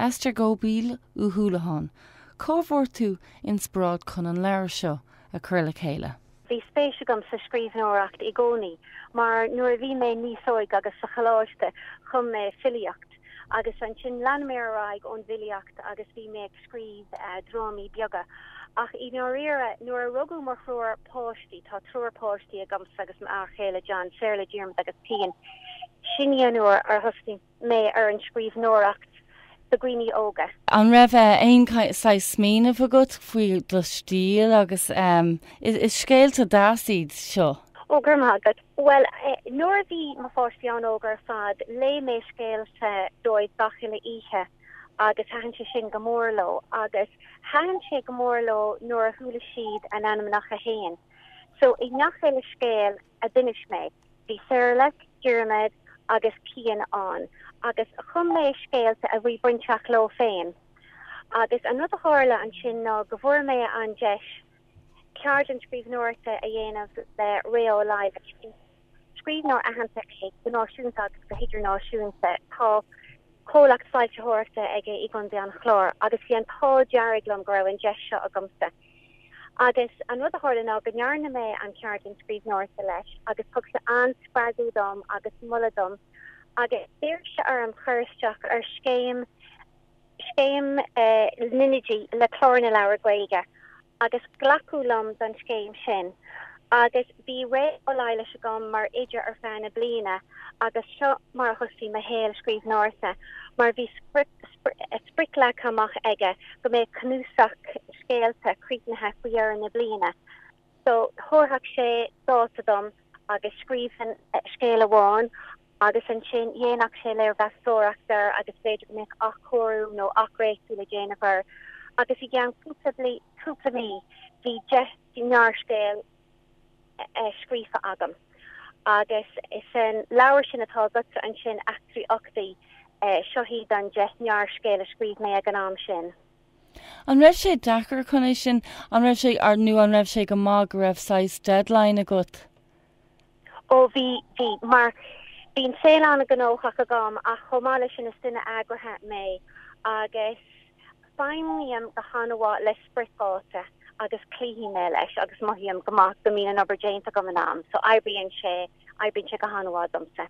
Esther Göbl Uí Shúilleabháin, cá bhfuair tú inspioráid chun an leabhar seo a chur le chéile. Bhí spéis agam sa scríbhneoireacht i gcónaí mar nuair a bhí mé níos óige agus sa choláiste, chum mé filíocht. agus ansin lean mé ar aghaidh ón bhfilíocht agus bhí mé ag scríobh drámaí beaga. Ach i ndáiríre, nuair a rugadh mo thriúr páistí, tá triúr páistí agamsa agus m'fhear chéile John, Saorla, Diarmaid agus Cian, sin í an uair ar thosnaigh mé ar an scríbhneoireacht do dhaoine óga. An raibh aon saghas smaoineamh agat faoi do stíl agus is scéalta deas iad seo. Ó, go raibh maith agat. Bhuel, nuair a bhí mo pháistí an-óg ar fad, léigh mé scéalta dóibh gach uile oíche agus thaitin sé sin go mór leo. Agus thaitin sé go mór leo nuair a chuala siad a n-ainmneacha fhéin. So, i ngach uile scéal a d'inis mé, bhí Saorlaith, Diarmaid agus Cian ann. Agus chum mé scéalta a bhí bainteach leo féin. Agus an rud a tharla ansin ná go bhfuair mé an deis ceardlann scríbhneoireachta a dhéanamh le Ré Ó Laighléis. Scríbhneoir aitheanta é, go náisiúnta agus go hidirnáisiúnta. Tá comhlacht foilsitheoireachta aige i gContae an Chláir agus bhí an t-ádh dearg liom go raibh an deis seo agamsa. Agus an rud a tharla ná go ndearna mé an cheardlann scríbhneoireachta leis agus thug sé an-spreagadh dom agus moladh dom agus d'iarr sé orm cur isteach ar scéim scéim na nOidí le Clár na Leabhar Gaeilge agus glacadh liom don scéim sin agus bhí Ré Ó Laighléis agam mar oide ar feadh na bliana agus seo mar a thosaigh mo shaol scríbhneoireachta mar bhí sprioc leagtha amach aige go mbeadh cnuasach scéalta críochnaithe faoi dheireadh na bliana. So, thabharfadh sé dáta dom agus scríbhinn, scéal amháin, agus ansin dhéanfadh sé léirmheastóireacht air agus b'fhéidir go mbeadh athchóiriú nó athdhréachtú le déanamh air. Agus i gceann cúpla mí bhí deich ngearrscéal scríofa agam. Agus san leabhar sin atá agatsa ansin, Eachtraí Uchtaí, seo iad an deich ngearrscéal a scríobh mé ag an am sin. An raibh sé deacair chun é sin, an raibh sé ar nó an raibh sé go maith go raibh saghas deadline agat? Ó bhí, bhí, mar bhí an saol an-ghnóthach agam ach chomh maith leis sin is duine eagraithe mé agus feidhmím go han-mhaith le spriocdháta agus cloífidh mé leis agus mothaím go maith go mbíonn an obair déanta agam in am so oibríonn sé, oibríonn sé go han-mhaith domsa.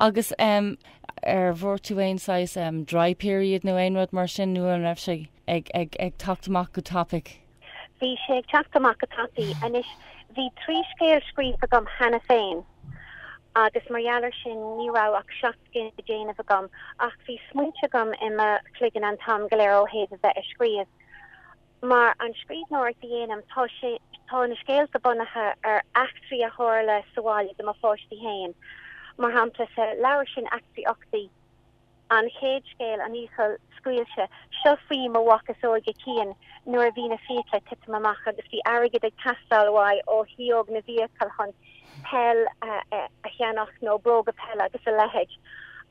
Agus em, an bhfuair tú aon saghas em, dry period nó aon rud mar sin nó an raibh sé ag, ag, ag teacht amach go tapaidh? Bhí sé ag teacht amach go tapaidh. Anois, bhí trí scéal scríofa agam cheana féin agus mar gheall air sin ní raibh ach seacht scéal le déanamh agam. Ach bhí smaointe agam i mo chloigeann an t-am go léir ó thaobh a bheith ag scríobh. Mar an scríbhneoireacht a dhéanaim, tá sé, tá na scéalta bunaithe ar eachtraí a tharla sa bhaile do mo pháistí féin. Mar shampla, sa leabhar sin Eachtraí Uchtaí, an chéad scéal, An Fhiacail Scaoilte, seo faoi mo mhac is óige, Cian, nuair a bhí na fiacla ag titim amach agus bhí airgead ag teastáil uaidh ó shíóg na bhfiacal chun peil a cheannach nó bróga peile agus a leithéid.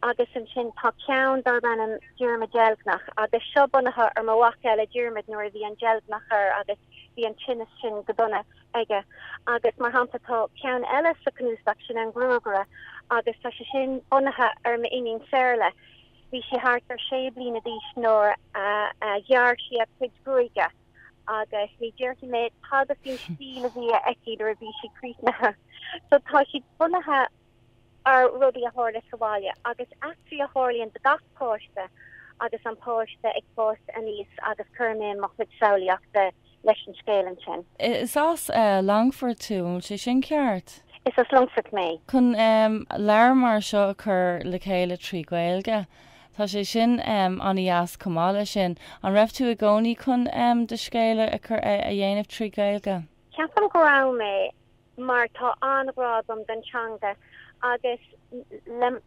Agus ansin tá ceann darb ainm Diarmaid Deilgneach agus seo bunaithe ar mo mhac eile Diarmaid nuair a bhí an deilgneach air agus bhí an tinneas sin go dona aige. Agus mar shampla tá ceann eile sa cnuasach sin An Gruagaire agus tá sé sin bunaithe ar m'iníon Saorla. Bhí sí thart ar sé bliana d'aois nuair a ghearr sí a cuid gruaige. agus ní déarfaidh mé tada faoin stíl a bhí aici nuair a bhí sí críochnaithe. So tá siad bunaithe ar rudaí a tharla sa bhaile agus eachtraí a tharlaíonn do gach páiste agus an páiste ag fás aníos agus cuirimse mo chuid samhlaíochta leis an scéal ansin. Is as Longfort tú, an bhfuil sé sin ceart? Is as Longfort mé. Chun leabhar mar seo a chur le chéile trí Ghaeilge, Tá sé sin an-deas. Chomh maith leis sin, an raibh tú i gcónaí chun do scéal a chur a dhéanamh trí Ghaeilge? Ceapaim go raibh mé, mar tá an-ghrá agam don teanga agus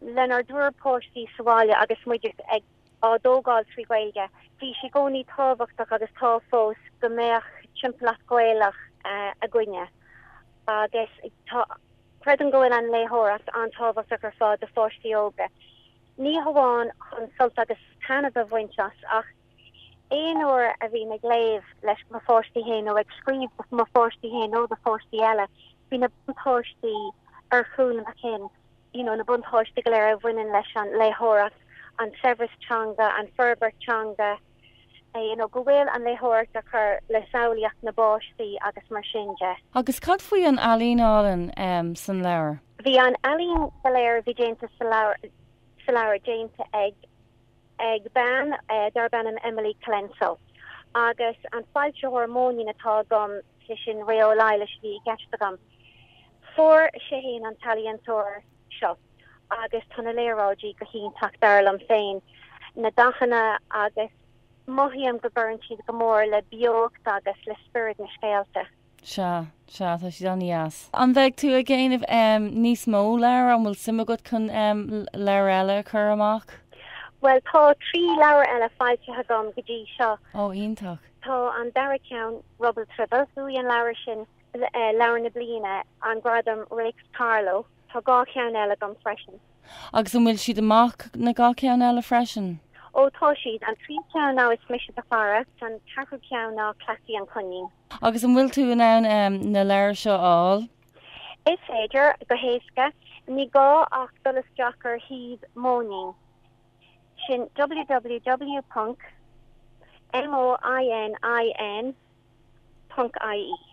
lenár dtriúr páistí sa bhaile agus muid ag á dtógáil trí Ghaeilge, bhí sé i gcónaí tábhachtach agus tá fós, go mbeadh timpeallacht Ghaelach againne. Agus tá, creidim go bhfuil an léitheoireacht an-tábhachtach ar fad do pháistí óga. ní hamháin chun sult agus taitneamh a bhaint as ach aon uair a bhím ag léamh leis mo pháistí fhéin nó ag scríobh do mo pháistí fhéin nó do pháistí eile bíonn na buntáistí ar chúl mo chinn, you know na buntáistí go léir a bhaineann leis an léitheoireacht, an saibhreas teanga, an fhorbairt teanga. you know go bhfuil an léitheoireacht ag cur le samhlaíocht na bpáistí agus mar sin de. Agus cad faoi an ealaín álainn san leabhar? Bhí an ealaín go léir a bhí déanta sa leabhar déanta ag bean darb ainm Emily Colenso agus an foilsitheoir Móinín atá agam, sé sin Ré Ó Laighleis a bhí i gceist agam. Fuair sé fhéin an t-ealaíontóir seo agus tá na léaráidí go hiontach dar liom féin, na dathanna agus mothaím go gcuireann siad go mór le beocht agus le spiorad na scéalta. Sea, sea, tá siad an-deas. An mbeidh tú ag déanamh níos mó leabhar? An bhfuil suim agat chun leabhar eile a chur amach? Bhuel, tá trí leabhar eile foilsithe agam go dtí seo. Ó, iontach. Tá an dara ceann, Rubble Tribble, bhuaigh an leabhar sin Leabhar na Bliana, an Gradam Réics Carló, tá dhá cheann eile agam freisin. Agus an bhfuil siad amach, na dhá cheann eile freisin? Ó tá siad. An tríú ceann ná Is Mise do Chara, an ceathrú ceann ná Cleasaí an Coinín. Agus an bhfuil tú in ann na leabhair seo a fháil? Is féidir, go héasca. Ní gá ach dul isteach ar shuíomh Móinín, sin www. moinin. .ie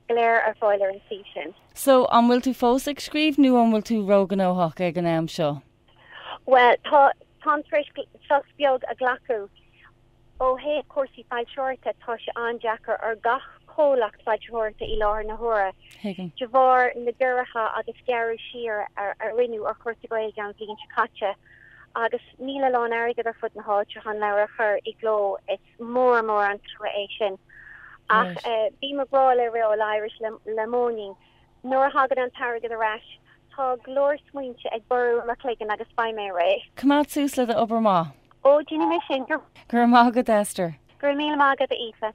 go léir ar fáil ar an suíomh sin. So, an bhfuil tú fós ag scríobh nó an bhfuil tú róghnóthach ag an am seo? Bhuel, tá, táim tar éis sos beag a ghlacadh. Ó thaobh cúrsaí foilsitheoireachta, tá sé an-deacair ar gach comhlacht foilsitheoireachta i láthair na huaire, de bharr na gciorruithe agus gearradh siar a rinneadh ar chúrsaí Gaeilge an bhliain seo caite, agus níl a lán airgid ar fud na háite chun leabhair a chur i gcló. Is. Mór mór an trua é sin. Ach bím ag rá le Ré Ó Laighléis le Móinín. Nuair a thagann an t-airgead ar ais, tá go leor smaointe ag borradh i mo chloigeann agus beidh mé réidh. Coimeád suas le d'obair maith. Ó, déanfaidh mé sin. Go raibh maith agat, Esther. Go raibh míle maith agat, a Aoife.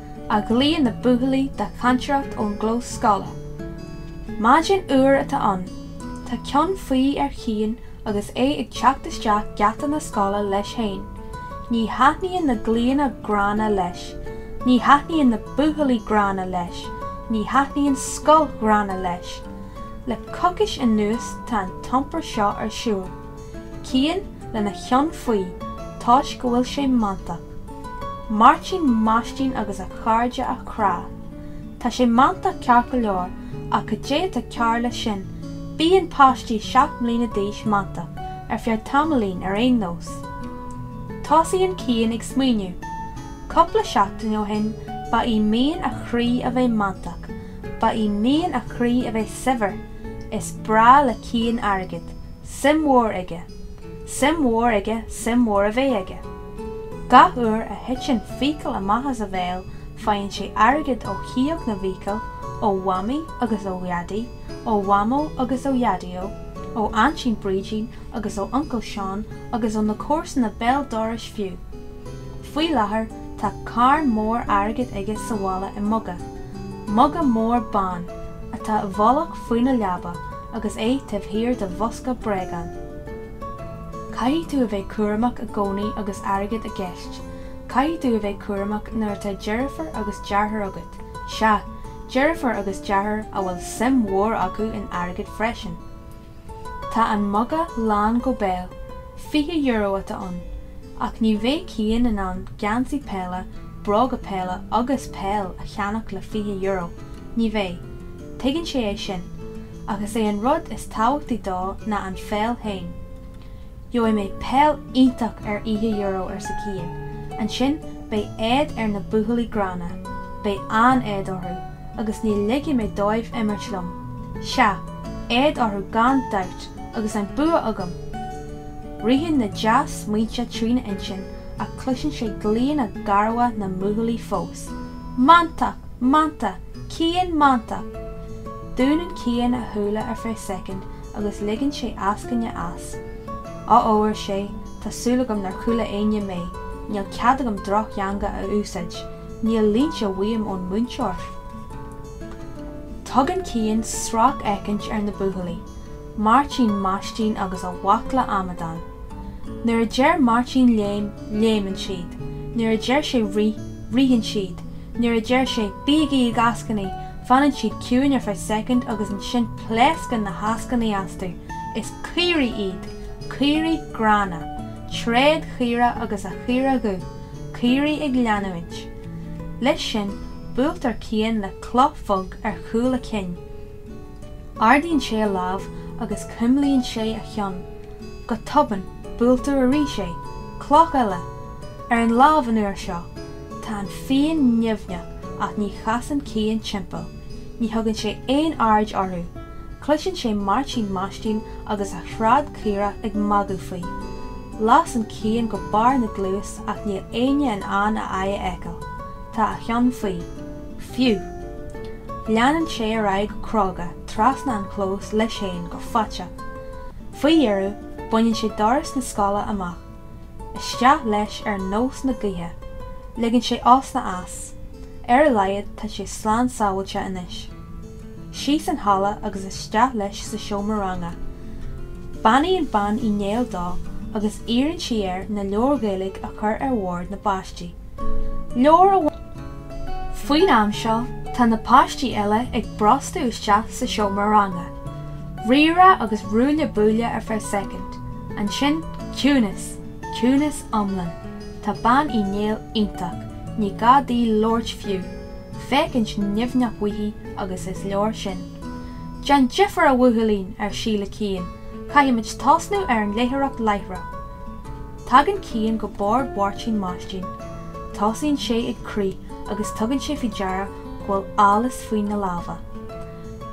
a ghlaonn na buachaillí de chantaireacht ón gclós scoile. Maidin fhuar atá ann. Tá ceann faoi ar Chian agus é ag teacht isteach geata na scoile leis féin. Ní thaitníonn na glaonna gránna leis. Ní thaitníonn na buachaillí gránna leis. Ní thaitníonn scoil ghránna leis. Le coicís anuas tá an t-iompar seo ar siúl. Cian lena cheann faoi toisc go bhfuil sé mantach. Máirtín maistín agus a chairde á chrá. Tá sé mantach ceart go leor, ach cad é atá cearr leis sin? Bíonn páistí seacht mbliana d'aois mantach, ar feadh tamaillín ar aon nós. Tosaíonn Cian ag smaoineamh. Cúpla seachtain ó shin, ba í mian a chroí a bheith mantach. Ba í mian a chroí a bheith saibhir. Is breá le Cian airgead. suim mhór aige, suim mhór aige suim mhór a bheith aige. Gach uair a thiteann fiacail amach as a bhéal faigheann sé airgead ó shióg na bhfiacal, ó Mhamaí agus ó Dhaidí, ó Mhamó agus ó Dhaideo, ó Aintín Brídín agus ó Uncail Seán agus ó na comharsana béal dorais fiú. Faoi láthair tá carn mór airgid aige sa bhaile i muga, muga mór bán atá i bhfolach faoina leaba, agus é taobh thiar de bhosca bréagán. Caithfidh tú a bheith cúramach i gcónaí agus airgead i gceist. Caithfidh tú a bheith cúramach nuair atá deirfiúr agus deartháir agat, sea, deirfiúr agus deartháir a bhfuil suim mhór acu in airgead freisin. Tá an muga lán go béal, fiche euro atá ann, ach ní bheidh Cian in ann geansaí peile, bróga peile agus peil a cheannach le fiche euro, ní bheidh. Tuigeann sé é sin. Ach is é an rud is tábhachtaí dó ná an pheil féin. Gheobhaidh mé peil iontach ar fhiche euro, arsa Cian. Ansin beidh éad ar na buachaillí gránna. Beidh an-éad orthu. Agus ní ligfidh mé dóibh imirt liom. Sea, éad orthu gan dabht, agus an bua agam! Ritheann na dea-smaointe trína intinn ach cloiseann sé glaonna garbha na mbuachaillí fós. Mantach! Mantach! Cian Mantach! Dúnann Cian a shúile ar feadh soicind agus ligeann sé eascaine as. Ó ó, ar sé, tá súil agam nár chuala éinne mé. Níl cead agam drochtheanga a úsáid. Níl línte uaim ón múinteoir. Tugann Cian sracfhéachaint ar na buachaillí. Máirtín maistín agus a bhaicle amadán. Nuair a deir Máirtín léim, léimeann siad, nuair a deir sé rith, ritheann siad, nuair a deir sé, Bígí ag eascainí! fanann siad ciúin ar feadh soicind agus ansin pléascann na heascainí astu. Is caoirigh iad! Caoirigh gránna. Tréad caorach agus a chaora dhubh. Caoirigh ag leanúint. Leis sin, buailtear Cian le cloch bhog ar chúl a chinn. Ardaíonn sé a lámh agus cuimlíonn sé a cheann. Go tobann, buailtear arís é, cloch eile! Ar an lámh an uair seo. Tá an phian nimhneach ach ní chasann Cian timpeall. Ní thugann sé aon aird orthu. Cloiseann sé Máirtín Maistín agus a thréad caorach ag magadh faoi. Lasann Cian go barr na gcluas ach níl éinne in ann a aghaidh a fheiceáil. Tá a cheann faoi. fiú. Leanann sé ar aghaidh go cróga trasna an chlós leis féin go faiteach. Faoi dheireadh, baineann sé doras na scoile amach. Isteach leis ar nós na gaoithe. Ligeann sé osna as. Ar a laghad tá sé slán sábháilte anois. Síos an halla agus isteach leis sa seomra ranga. Beannaíonn Bean Uí Néill dó agus iarrann sí air na leabhair Ghaeilge a chur ar bhord na bpáistí. leor amháin. Faoin am seo, tá na páistí eile ag brostú isteach sa seomra ranga. Rírá agus ruaille buaille ar feadh soicind, ansin ciúnas, ciúnas iomlán. Tá Bean Uí Néill iontach, ní gá di labhairt fiú, féachaint nimhneach uaithi agus is leor sin. Déan difear a bhuachaillín, ar sí le Cian, caithfimid tosnú ar an léitheoireacht láithreach. Tagann Cian go Bord Mháirtín Maistín. Tosaíonn sé ag crith agus tugann sé faoi deara go bhfuil allas faoina lámha.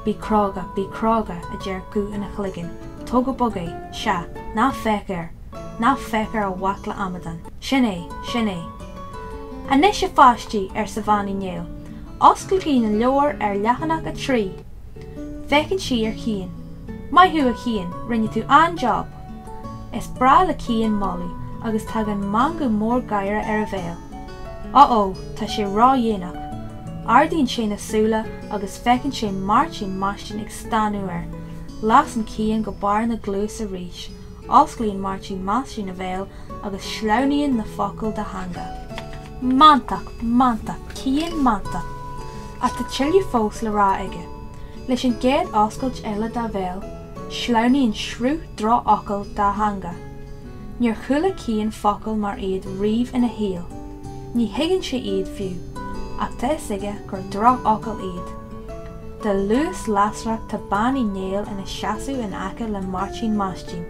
Bí cróga, bí cróga, a deir guth ina chloigeann, tóg go bog é, sea, ná féach air! Ná féach ar a bhaicle amadán! Sin é! Sin é! Anois, a pháistí, arsa Bean Uí Néill, osclaigí na leabhair ar leathanach a trí! Féachann sí ar Chian. Maith thú a Chiain, rinne tú an-job! Is breá le Cian moladh agus tagann meangadh mór gáire ar a bhéal. Uh-oh, tá sé ródhéanach! Ardaíonn sé na súile agus feiceann sé Máirtín Maistín ag stánadh air. Lasann Cian go barr na gcluas arís. Osclaíonn Máirtín Maistín a bhéal agus sleamhnaíonn na focail dá theanga. Mantach! Mantach! Cian mantach! Ach tá tuilleadh fós le rá aige. Leis an gcéad oscailt eile dá bhéal, sleamhnaíonn sruth drochfhocal dá theanga. Níor chuala Cian focail mar iad riamh ina shaol. Ní thuigeann sé iad, fiú, ach tá 'fhios aige gur drochfhocail iad. De luas lasrach tá Bean Uí Néill ina seasamh in aice le Máirtín Maistín.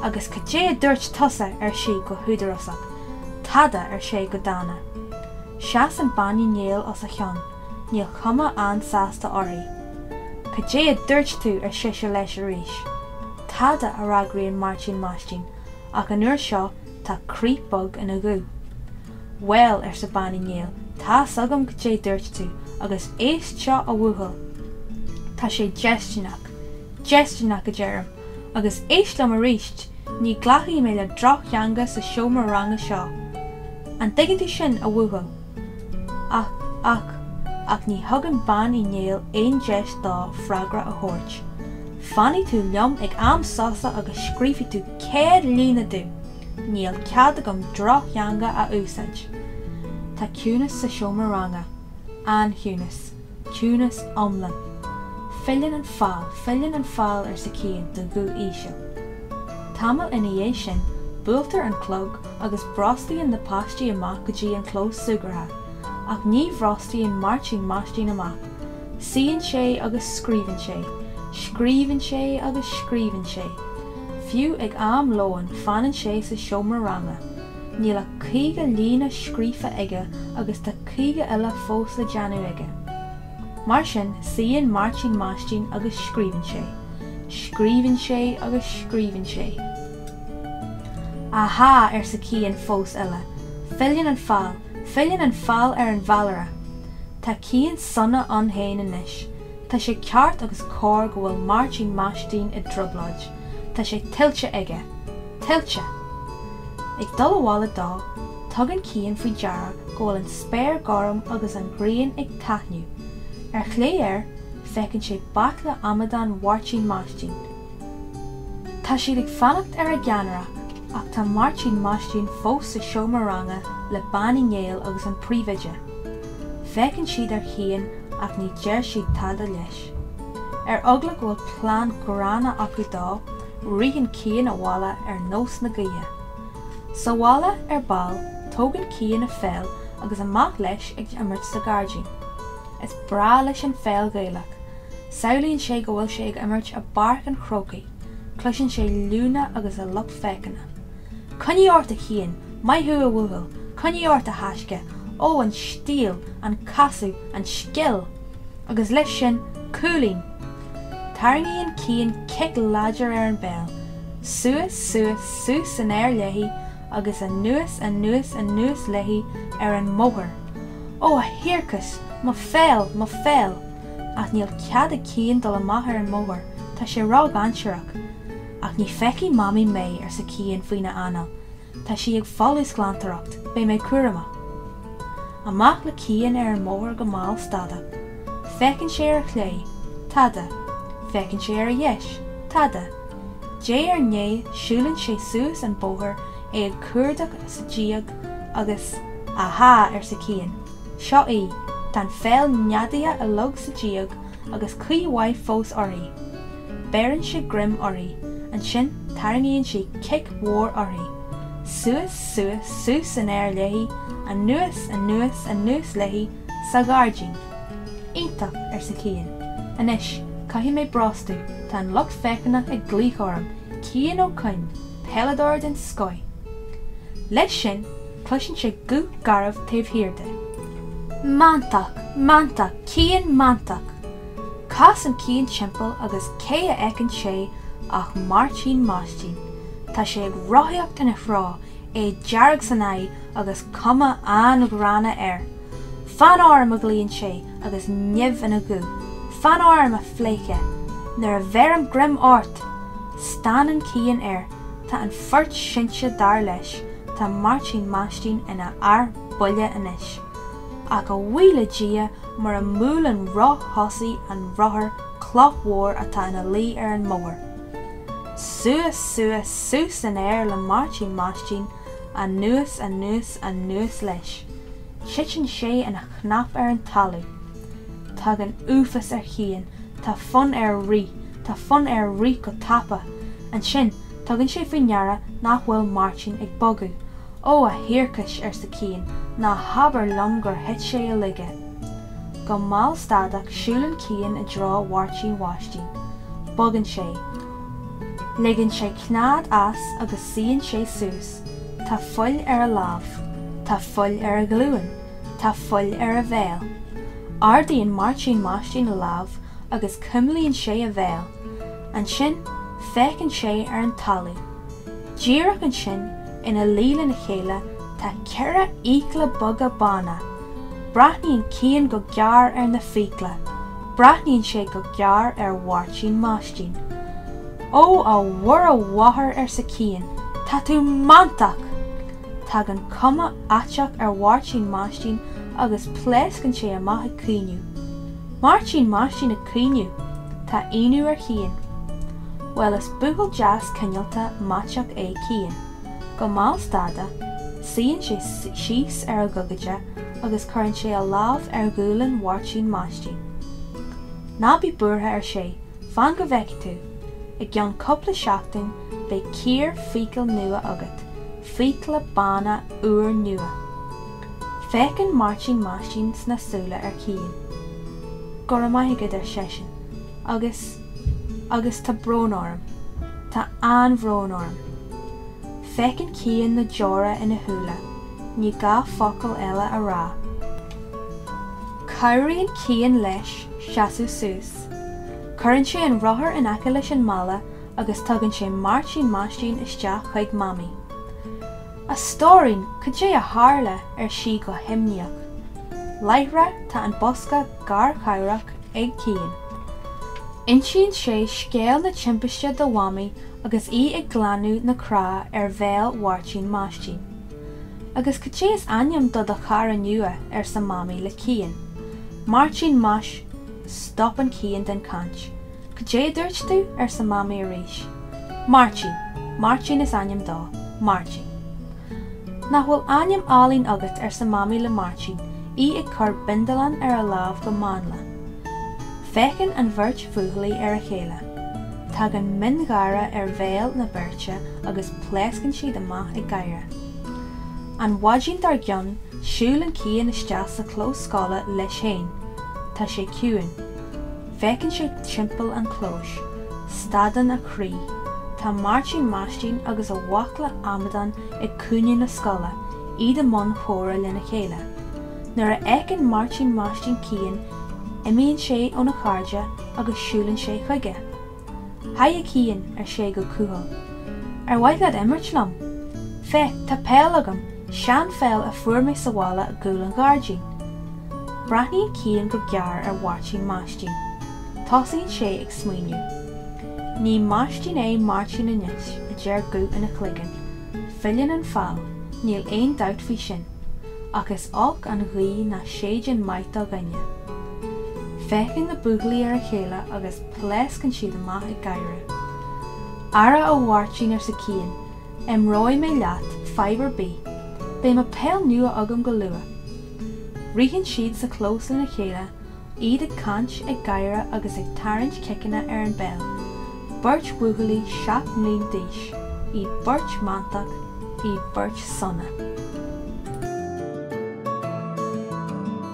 Agus cad é a dúirt tusa? ar sí go húdarásach. Tada, ar sé go dána. Seasann Bean Uí Néill os a chionn, níl cuma an-sásta uirthi. Cad é a dúirt tú? ar sise leis arís. Tada, a fhreagraíonn Máirtín Maistín, ach an uair seo tá crith bog ina ghuth. Bhuel, arsa Bean Uí Néill, tá's agam goidé dúirt tú, agus éist seo a bhuachaill. Tá sé déistineach. Déistineach, a deirim. Agus éist liom aríst, ní ghlacfaidh mé le drochtheanga sa seomra ranga seo. An dtuigeann tú sin, a bhuachaill? Ach, ach, ach ní thugann Bean Uí Néill aon deis dó freagra a thabhairt. Fanfaidh tú liom ag am sosa agus scríobfaidh tú céad líne domh! Níl cead agam drochtheanga a úsáid. Tá ciúnas sa seomra ranga. An-chiúnas. Ciúnas iomlán. Filleann an feall, filleann an feall, arsa Cian de ghuth íseal. Tamall ina dhiaidh sin, buailtear an clog agus brostaíonn na páistí amach go dtí an clós súgartha, ach ní bhrostaíonn Máirtín Maistín amach. Suíonn sé agus scríobhann sé, scríobhann sé agus scríobhann sé. Fiú ag am lóin fanann sé sa seomra ranga. Níl ach 50 líne scríofa aige agus tá 50 eile fós le déanamh aige. Mar sin suíonn Máirtín Maistín agus scríobhann sé, scríobhann sé agus scríobhann sé. Ahá, arsa Cian, fós eile. Filleann an feall. Filleann an feall ar an bhfeallaire. Tá Cian sona ann féin anois. Tá sé ceart agus cóir go bhfuil Máirtín Maistín i dtrioblóid. Tá sé tuillte aige. Tuillte! Ag dul abhaile dó, tugann Cian faoi deara go bhfuil an spéir gorm agus an ghrian ag taitneamh. Ar chlé air, feiceann sé baicle amadán Mháirtín Maistín. Tá siad ag fanacht ar a gceannaire ach tá Máirtín Maistín fós sa seomra ranga le Bean Uí Néill agus an príomhoide. Féachann siad ar Chian ach ní deir siad tada leis. Ar eagla go bhfuil plean gránna acu dó, ritheann Cian abhaile ar nós na gaoithe. Sa bhaile ar ball, tógann Cian a pheil agus amach leis ag imirt sa ghairdín. Is breá leis an pheil Ghaelach Samhlaíonn sé go bhfuil sé ag imirt i bPáirc an Chrócaigh. Cloiseann sé liúnna agus an lucht féachana. Coinnigh ort a Chiain! Maith thú a bhuachaill! Coinnigh ort a thaisce! Ó, an stíl! An casadh! An scil! Agus leis sin, cúilín! Tarraingíonn Cian cic láidir ar an bpeil. Suas, suas, suas san aer léi agus anuas, anuas, anuas léi ar an mbóthar. Ó, a thiarcais! Mo pheil! Mo pheil! Ach níl cead ag Cian dul amach ar an mbóthar, tá sé ró-dhainséarach. Ach ní feicfidh Mamaí mé, arsa Cian faoina anáil. Tá sí ag folúsghlantóireacht, beidh mé cúramach. Amach le Cian ar an mbóthar go mall. Tada. Féachann sé ar a chlé. Tada. Féachann sé ar a dheis. Tada. Diaidh ar ndiaidh siúlann sé suas an bóthar, é ag cuardach sa díog agus, Aha! arsa Cian. Seo í, tá an pheil neadaithe i log sa díog agus caoi mhaith fós uirthi. Beireann sé greim uirthi, ansin tarraingíonn sé cic mhór uirthi. Suas, suas, suas san aer léi, anuas, anuas, anuas léi, sa ghairdín. Iontach! arsa Cian. Anois, caithfidh mé brostú, tá an lucht féachana ag glaoch orm, Cian Ó Coinn, peileadóir den scoith! Leis sin, Cloiseann sé guth garbh taobh thiar de. Mantach! Mantach! Cian Mantach! Casann Cian timpeall agus cé a fheiceann sé ach Máirtín Maistín. Tá sé ag rothaíocht ina threo, é dearg san aghaidh agus cuma an-ghránna air. Fan orm! a ghlaonn sé agus nimh ina ghuth. Fan orm, a phleidhce. Nuair a bheirim greim ort! Stánann Cian air. Tá a phort seinnte dar leis, tá Máirtín Maistín ina fhear buile anois. Ach a bhuí le Dia, mura mbuaileann roth thosaigh an rothair cloch mhór atá ina luí ar an mbóthar. Suas, suas, suas san aer le Máirtín Maistín, anuas, anuas, anuas leis. Titeann sé ina chnap ar an talamh. Tagann uafás ar Chian, tá fonn air rith, tá fonn air rith go tapa. Ansin, tugann sé faoi ndeara nach bhfuil Máirtín ag bogadh. Ó, a thiarcais, arsa Cian, ná habair liom gur thit sé i laige. Go mall stadach, siúlann Cian i dtreo Mháirtín Mhaistín. Bogann sé. Ligeann sé cnead as agus suíonn sé suas. Tá fuil ar a lámh. Tá fuil ar a ghlúin. Tá fuil ar a bhéal. Ardaíonn Máirtín Maistín a lámh agus cuimlíonn sé a bhéal. Ansin, féachann sé ar an talamh. Díreach ansin, ina luí lena chéile, tá ceithre fhiacla beaga bána. Breathnaíonn Cian go géar ar na fiacla. Breathnaíonn sé go géar ar Mháirtín Maistín. Ó, a Mhuire Mháthair, arsa Cian, tá tú mantach! Tagann cuma fhaiteach ar Mháirtín Maistín agus pléascann sé amach ag caoineadh. Máirtín Maistín ag caoineadh! Tá ionadh ar Chian. Bhuel, is buachaill deas cineálta maiteach é Cian. Go mall stadach, suíonn sé síos ar a ghogaide agus cuireann sé a lámh ar ghualainn Mháirtín Maistín. Ná bí buartha, ar sé, fan go bhfeicfidh tú! I gceann cúpla seachtain, Beidh cíor fiacal nua agat, fiacla bána úrnua. Féachann Máirtín Maistín sna súile ar Chian. Go raibh maith agat, ar seisean, agus, agus tá brón orm, tá an-bhrón orm. Feiceann Cian na deora ina shúile, ní gá focal eile a rá. Cabhraíonn Cian leis seasamh suas. Cuireann sé an rothar in aice leis an mballa agus tugann sé Máirtín Maistín isteach chuig Mamaí. 'A stóirín, cad é a tharla? ar sí go himníoch. Láithreach tá an bosca garchabhrach ag Cian. Insíonn sé scéal na timpiste do Mhamaí agus í ag glanadh na cneá ar bhéal Mháirtín Maistín. 'Agus cad é is ainm do do chara nua? arsa Mamaí le Cian. 'Máirtín Mais. Stopann Cian den chaint. Goidé dúirt tú? arsa Mamaí arís. Máirtín. Máirtín is ainm dó. Máirtín. Nach bhfuil ainm álainn agat, arsa Mamaí le Máirtín, í ag cur bindealáin ar a lámh go mánla. Féachann an bheirt bhuachaillí ar a chéile. Tagann miongháire ar bhéal na beirte agus pléascann siad amach ag gáire. An mhaidin dár gcionn, siúlann Cian isteach sa chlós scoile leis féin. Tá sé ciúin. Féachann sé timpeall an chlóis. Stadann a chroí. Tá Máirtín Maistín agus a bhaicle amadán ag cúinne na scoile, iad i mbun comhrá lena chéile. Nuair a fheiceann Máirtín Maistín Cian, imíonn sé óna chairde agus siúlann sé chuige. Haigh a Chian, ar sé go cúthail. Ar mhaith leat imirt liom? Féach, tá peil agam, seanpheil a fuair mé sa bhaile i gcúl an ghairdín. Breathnaíonn Cian go gearr ar Mháirtín Maistín. Tosaíonn sé ag smaoineamh. Ní Maistín é Máirtín anois, a deir guth ina chloigeann. Filleann an feall, níl aon dabht faoi sin. Ach is olc an ghaoth nach séideann maith do dhuine. Féachann na buachaillí ar a chéile agus. Pléascann siad amach ag gáire. Ara ó a Mháirtín, arsa Cian, imreoidh mé leat, fadhb ar bith. Beidh mo pheil nua agam go luath. Ritheann siad sa chlós lena chéile, iad ag caint, ag gáire agus ag tarraingt ciceanna ar an bpeil. Beirt bhuachaillí seacht mbliana d'aois, iad beirt mantach, iad beirt sona.